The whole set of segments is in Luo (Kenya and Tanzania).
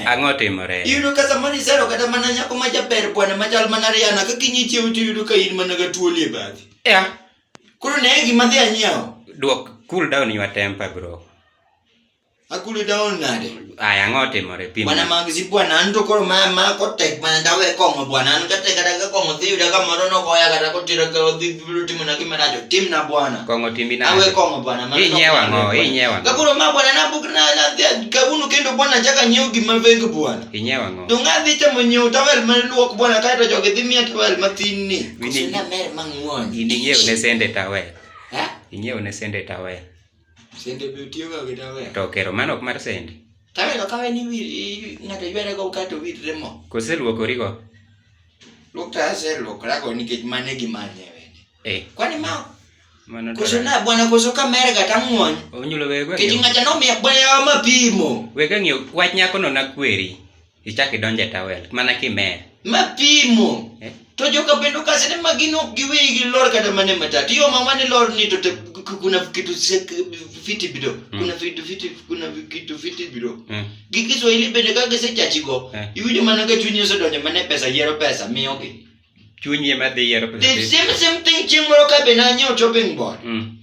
Ang'o timore? Iyudo ka samoro isero kata mana nyako ma jaber bwana machal mana Rihanna ka kinyi chiew to iyudo ka in mana ga tuoli e bathi. Yeah. Koro ne gima dhi anyiewo. Duok cool down your temper bro. Akuli down nade? Aya ang'o timore pim. Bwana magzi bwana an to koro ma ma kotek mana dawe kong'o bwana an kata kata ka kong'o dhi yuda kamoro nogoya kata kotira ka odhi ibiro timo na gima najo tim na bwana kong'o timbi na awe kong'o bwana mana inyewa ng'o inyewa ng'o kakuro ma bwana na buk na na kabunu kendo bwana chaka nyiew gima veng bwana inyewa ng'o to ng'a dhi temo nyiew tawel ma luok bwana kae to jogi dhi miya tawel mathin ni wini na mer mang'won ini nyiew ne sende tawel ha inyiew ne sende tawel sende bi tiyo ga gi tawel to kero mano ok mar sende tawel okawe ni ng'ato ywere go kato witre mo koseluokori go Luktase lukrago nikech mane gimanye wende. Eh. Kwani ma Mano koso na bwana koso kamera kata ng'wony. Onyulo wego. Kiti ng'acha no miya bwana ma pimo. Wega ng'iyo wach nyako no na kweri. Ichak idonje tawel mana kimer. Ma pimo. Eh? To joka bendo kasi ne magino giwe gi lor kata mane matatu. Yo mama ne lor ni to te kuna kitu fiti bido. Mm. Kuna fiti fiti kuna kitu fiti bido. Mm. gi kiswahili bende ka gisechachigo Eh. iwinjo mana ka chunyi osedonjo mana e pesa yiero pesa miyogi Chunyi ema dhi yiero pesa. the same same thing chieng' moro ka be nanyiewo chopping board Mm.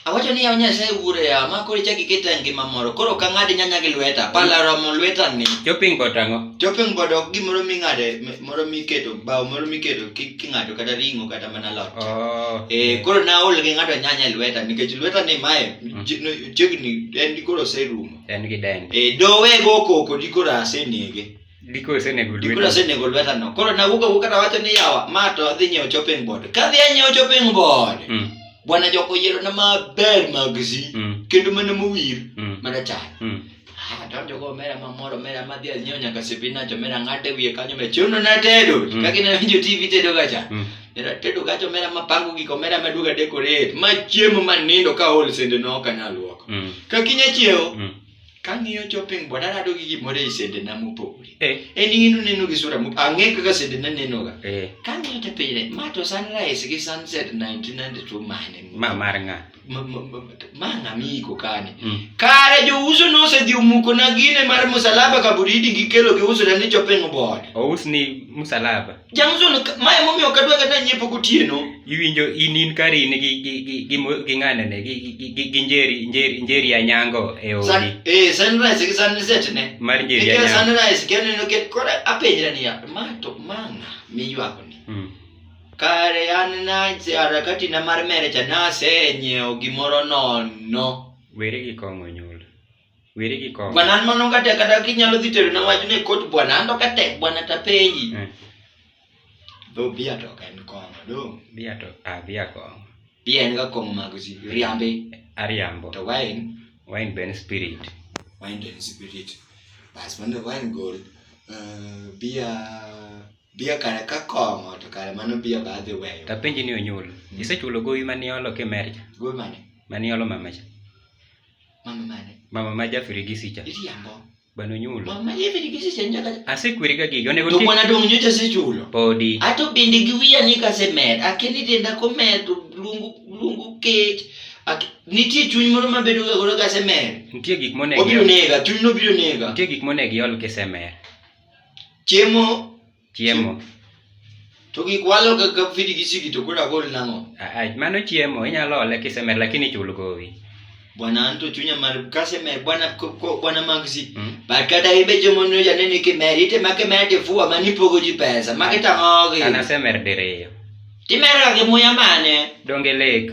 awacho ni yaw nyasaye wuoro yawa ma koro ichak iketa e ngima moro koro ok ang'ad nyanya gi lweta pala romo lweta ni Chopping board ang'o? chopping board ok gimoro ming'ade m- moro miketo bao moro miketo ki- king'ado kata ring'o kata mana lot Oh. Eh, koro naol gi ng'ato nyanya e lweta nikech lweta ni mae ji- no- chiegni en dikoro oserumo en gi dende e dowe go koko dikoro asenege dikoro osenego dikoro lweta asenego lweta no koro nawuok awuok kata wacho ni yawa ma to adhi nyiewo chopping board kadhi anyiewo chopping board Mm, bwana joko yierona maber mag zi mm, kendo mana mowir mm, mana chal mm. Ah, donjo go mera mamoro mera madhi anyiewo nyaka sipinach omera ng'ate wiye kanyo me chuno na tedo Mm. kaka inawinjo tv tedo gacha Mm. era tedo gacha omera mapango gik omera maduog adekorate ma chiemo ma nindo ka ol sende no ok anyal luoko Mm. kakinya chiewo Mm. kang'iyo chopping board arado gi gimoro ei sende na mopogore Eh. en ing'ino neno gi sura mop- ang'e kaka sende na nenoga Eh. kang'iyo te pile ma to sunrise gi sunset 1992 mane ma mar ng'a mana miko kani mm. kare jouso nosedhi omukona gine mar musalaba kaburidi gikelo giusona ni chopeng bod ous ni musalaba jamson mae momiyo kadwa kata nyiepo gotieno iwinjo in in kari in gi gi gi gi gi ng'anene gi gi gi gi njeri njeri njeri ya nyango e odi eh sunrise gi sunset ne mar njeri ya nyango sunrise kene no ket kore apenjra niya ma to manga miywa koni mm. Kare an nase harakati na mar mere cha nasenyiewo gimoro nono. Weri gi kong'o nyul. Weri gi kong'o. Bwana an mano kata kata kinyalo dhi tero na wach ne kot bwana an to kata bwana ta penji. Eh. Dho bia to en kong'o do. Bia to a ah, bia kong'o. Bia en ga kong'o mag si riambe. Ariambo. To wine. Wine ben spirit. Wine ben spirit. Bas mano wine gold. Uh, eh, bia Biya kare ka kong'o to kare mano biya ba adhi weyo. Tapenji ni onyulo. Mm. Isechulo gowi mane olo kimer cha? Gowi mane? Mane olo mama cha. Mama mane? Mama ma jafiri gi sicha. Iriambo. Bano onyulo. Mama jafiri gi sicha nyaka. Asekwiri ga gigi onego ti. To kwana dong nyocha asechulo. Podi. Ato bende gi wiya ni ka se mer. Akeni denda ko mer to lungu lungu kech. Ak, nitie chuny moro ma bedo ga godo ka se mer. Nitie gik monego. Obiro nega, chuny no biro nega. Nitie gik monego iol kisemer. Chiemo. Chiemo. To gik walo kaka fidi gi sigi to kula gol nango. Ah, mano chiemo inyalo ole kisemer lakini chul gowi. Bwana anto chunya mar kase mer bwana ko bwana magsi. Hmm? Ba kada ibe jomo no ya nene ke mer ite ma ke mer te fuwa mani pogo ji pesa ma ke tango gi. Ana se mer dereyo. Ti mer ga ke muya mane. Donge lek.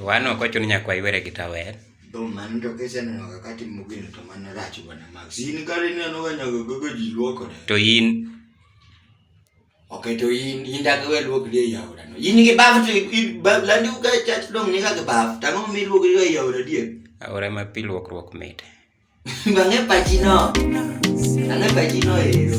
Wan ok ochuno nyaka waywere gi tawel. Dom mano to kiseneno kaka timo gino to mano rach bwana Max. In kare ineno ga nyaka gogo ji luokore. To in Okay, to in in dak we luok di e yaura no. In gi baf to baf landi u ga chat dom ni ga baf. Tango mi luok di e yaura di. Aura ma pi luokruok mit. Bang'e pachi no. Bang'e pachi no ero.